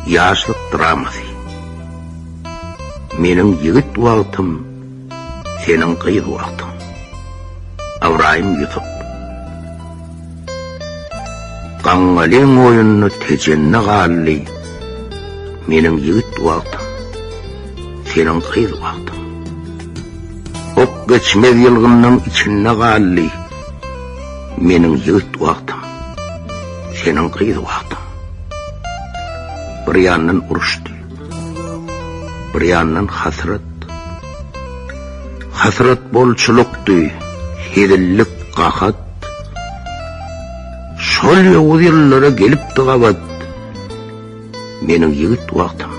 Ýaşlyk dramasy. Meniň ýigit wagtym, seniň gyz wagtyň. Ybraýym Ýusup. Gaňňalyň oýuny tejende galdy. Meniň ýigit wagtym, seniň gyz wagtyň. Ok geçmez ýylgymyň içinde galdy. Meniň ýigit wagtym, Seniň gyz wagtyň. Bir ýandan uruşdy. Bir ýandan hasrat. Hasrat bolçulukdy, hezillik gahat. Şol ýowuz ýyllara gelipdi gabat. Meniň ýigit wagtym,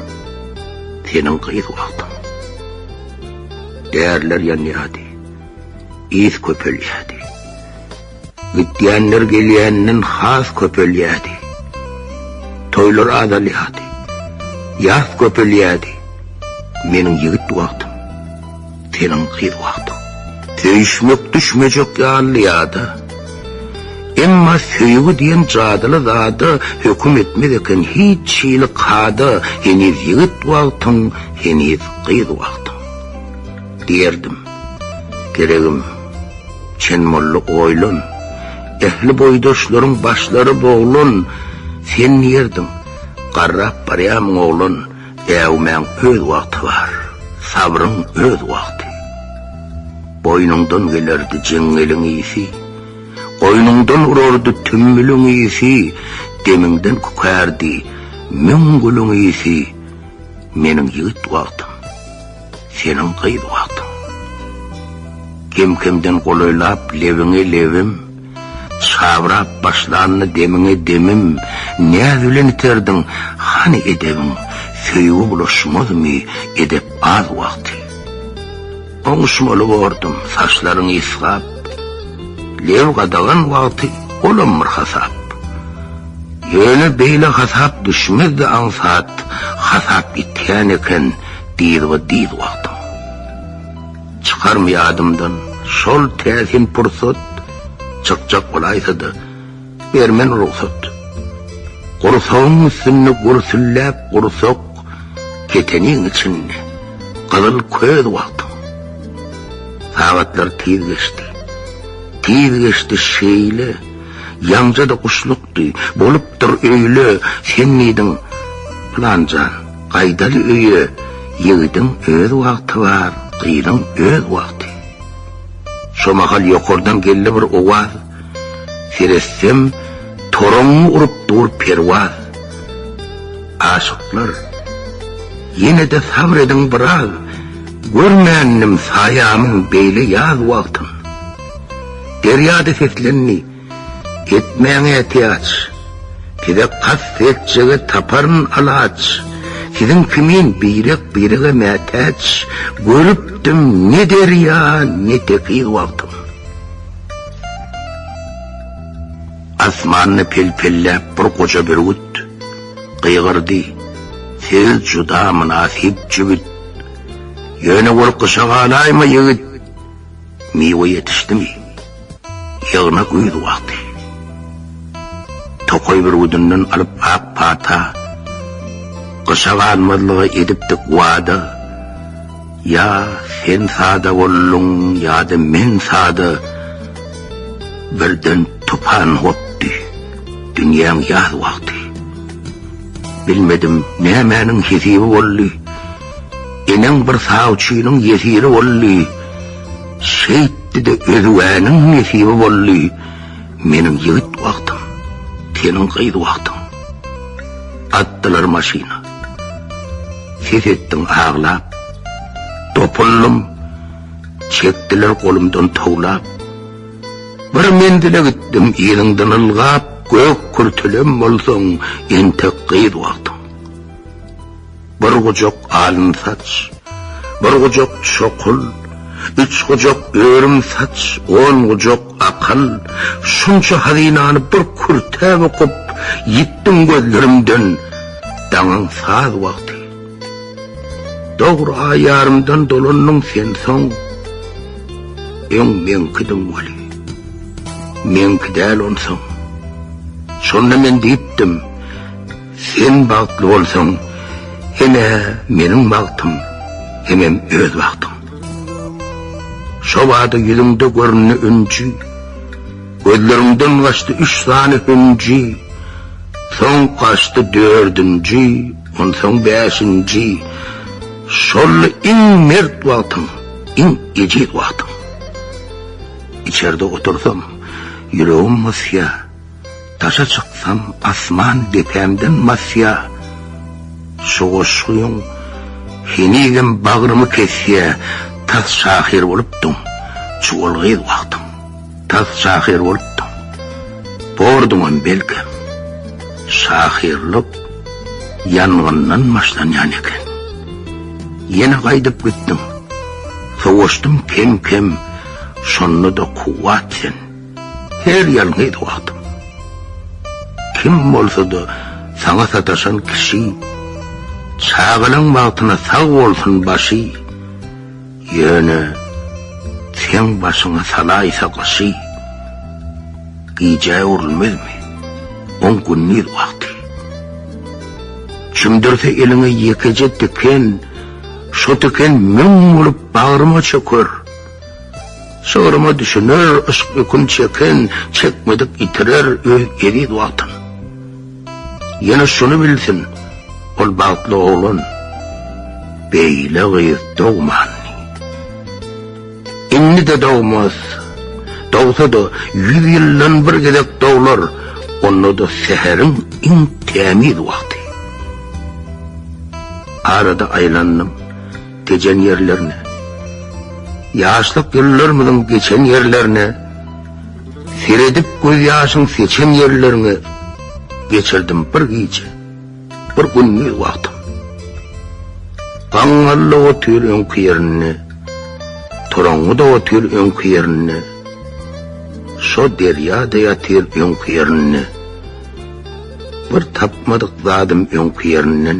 seniň gyz wagtyň. Därler ýanýady, ýes köpelýädi. Gitýänler gelýänden has köpelýärdi. Toýlar azalýardy. Ýas köpelýärdi. Meniň ýigit wagtym, seniň gyz wagtyň. Söýüşmek düşmejek ýaly ýada. Emma söýgi diýen jadyly zada höküm etmez eken hiç hili kada, heniz ýigit wagtyň, heniz gyz wagtyň. Diýerdim, Geregim, Çen molla oýlan, ähli boýdaşlaryň başlary boglan, sen nirdiň, garrap barýamyň oglan, äwmäň öz wagty bar, sabryň öz wagty. Boýnuňdan gelerdi jeňňeliň ysy, goýnuňdan urardy tümmüliň ysy, demiňden kükärdi müň gülüň ysy, meniň ýigit wagtym. Seniň gyz wagtyň. Kem-kemden golaýlap lebiňe lebim, Çabrap başlandy demiňe demim, Näz bilen iterdiň, hany edebiň, Söýgi bulaşmazmy edep az wagty. Oňuşmaly bordum, saçlaryň ysgap, Leb gadagan wagty, olam bir hasap. Ýöne beýle hasap düşmezdi aňsat, Hasap ýitgän eken, Diz we diz wagtym. Çykarmy ýadymdan şol täsin pursat, Çykjak bolaýsa-da, ber men rugsat. Gursagyň üstünde gürsülläp gursak, Keteniň içinde gyzyl köz wagtym. Sagatlar tiz geçdi. Tiz geçdi şeýle, ýaňja-da guşluk Ýokdy. Bolupdyr öýle, sen diýdiň. Pylanjan, gaýdaly öýe. Ýigidiň öz wagty bar, gyzyň öz wagty. Şo mahal ýokardan geldi bir owaz. Seretsem, toraňňy urup dur Perwaz. Aşyklar, ýene-de sabr ediň biraz. Görmändim saýamyň beýle ýaz wagtyn. Derýa-da seslendi. Etmäň ätiýaç, Size kast etjege taparyn alaç, Siziň kimin birek-birege mätäç, Görüpdim ne derýa, ne tekiz wagtym. Asmanda pel-pelläp bir goja bürgüt, Gygyrdy, Siz juda mynasyp jübüt, Ýöne ol gyşa galaýma ýigit. Miwe ýetişdimi? Ýygna güýz wagty. Tokaý bürgüdinden alyp ak pata, Gyşa galmazlyga edipdik wada. Ýa sen sada bolduň, ýa-da men sada, Birden tupan gopdy dünýäň ýaz wagty. Bilmedim nämäniň hesibi boldy, Eneň bir sawçynyň ýesiri boldy. Şeýtdi-de özügäniň nesibi boldy. Meniň ýigit wagtym, seniň gyz wagtyň. Atdylar maşyna. Ses etdim aglap. Dopuldym. Çekdiler golumdan towlap. Bir menzile gitdim yzyňdan ylgap, gök kürtelem bolsaň, entek gyz wagtyň. Bir gujak alyn saç, bir gujak çokul, üç gujak örüm saç, on gujak akyl, şunça hazynany bir kürtäp okup, ýitdim gözlerimden, daňyň saz wagty. Dogry aý ýarymdan dolandyň sen soň, öň meňkidiň weli, meňki däl onsoň. Şonda men diýipdim. Sen bagtly bolsaň, ine meniň bagtym, hemem öz bagtym. Şo bada ýüzüňde göründi ünji, gözleriňden gaçdy üç sany hünji, soň gaçdy dördünji, onsoň bäşinji, şoldy iň mert wagtyň, iň ejiz wagtyň. Içerde otursam, ýüregim mysýa. Daşa çyksam, asman depämden basýa, Şu goşgyň henizem bagrymy kesýä, Tas şahyr bolupdyň, çuwal gyz wagtyň, Tas şahyr bolupdyň, borduňam belkem, Şahyrlyk ýangyndan başlanýan eken. Ýene gaýdyp gitdiň, sowaşdym kem-kem, Şonda-da kuwwat sen. Her ýalňyz wagtyň. Kim bolsa-da saňa sataşan kişi, Çagalaň bagtyna sag bolsun başy, Ýöne seň başyňa salaýsa gyşy, Gijä öwrülmezmi oň gündiz wagty? Çümdürse eliňe ýekeje tiken, Şo tiken müň bolup bagryma çöker, Şygyryma düşüner, yşk ýükün çeken, çekmedik ýitirer öz eziz Watan. Ýene şuny bilsin, ol bagtly oglan, beýle gyz dogman. Indi-de dogmaz. Dogsa-da, ýüz ýyldan bir gezek doglar, onda-da säheriň iň tämiz wagty. Arada aýlandym. gecen ýerlerine, Ýaşlyk ýyllarmyzyň geçen ýerlerine, Seredip gözýaşyň seçen ýerleriňe Geçirdim bir gije, bir gündiz wagtym. Gaňňallyk otyr öňki ýerinde, Toraňňyda otyr öňki ýerinde, Şo derýa-da ýatyr öňki ýerinde, Bir tapmadyk zadym öňki ýerinden.